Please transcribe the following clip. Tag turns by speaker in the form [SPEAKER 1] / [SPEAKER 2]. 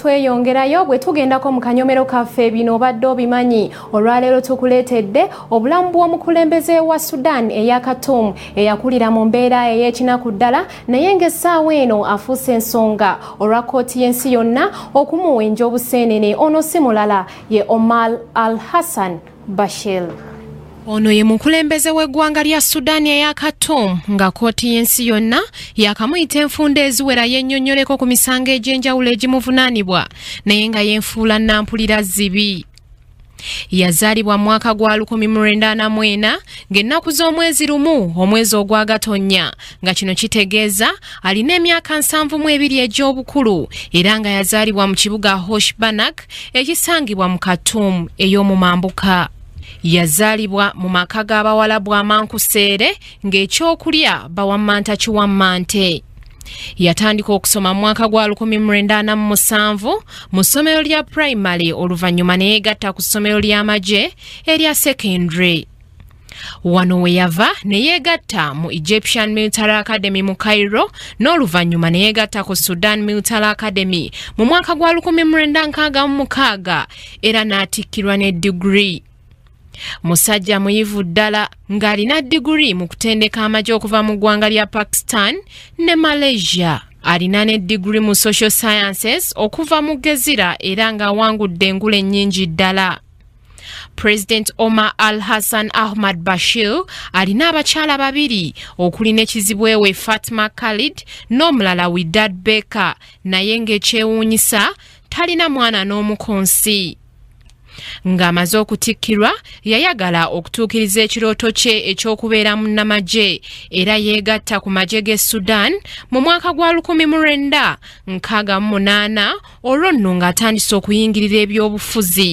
[SPEAKER 1] tweyongerayo bwe tugendako mu kanyomero kaffe bino obadde obimanyi olwaleero tukuleetedde obulamu bw'omukulembeze wa sudan eya katumu eyakulira mu mbeera ey'ekinaku ddala naye ng'essaawa eno afuuse ensonga olwa kkooti y'ensi yonna okumuwenja obuseenene ono si mulala ye omar al hassan Bashir. Ono ye mukulembeze w'eggwanga lya Sudan eya Khartoum nga kkooti y'ensi yonna yakamuyita enfunda eziwera yennyonnyoleko ku misango egy'enjawulo egimuvunaanibwa naye nga yenfuula nnampulira zibi yazaalibwa mu mwaka gwa 1940 ng'ennaku z'omwezi lumu omwezi ogwagatonnya nga kino kitegeeza alina emyaka nsanvu mu ebiri egy'obukulu era nga yazaalibwa mu kibuga hoshbanak ekisangibwa mu khartoum ey'omu mambuka yazaalibwa mu maka g'abawalabu amankuseere ng'ekyokulya bawammanta kiwammante yatandika okusoma mu mwaka gwa 1997 mu ssomero lya primary oluvannyuma neyegatta ku ssomero ly'amagye erya secondary wano we yava ne yeegatta mu egyptian military academy mu cairo n'oluvannyuma ne yeegatta ku sudan military academy mu mwaka gwa 1966 era n'atikkirwa ne digiri musajja muyivu ddala ng'alina digiri mu kutendeka amagye okuva mu ggwanga lya pakistan ne malaysia alina ne digiri mu social sciences okuva mu gezira era ng'awangudde engule nnyingi ddala president omar al hassan ahmad bashir alina abakyala babiri okuli nekizibu ewe fatima khalid n'omulala widad baker naye ng'ekyewuunyisa talina mwana n'omu ku nsi ng'amaze okutikkirwa yayagala okutuukiriza ekirooto kye eky'okubeera munnamagye era yeegatta ku magye g'e sudan mu mwaka gwa 19 nkaaga mu munaana olwo nno ng'atandise okuyingirira ebyobufuzi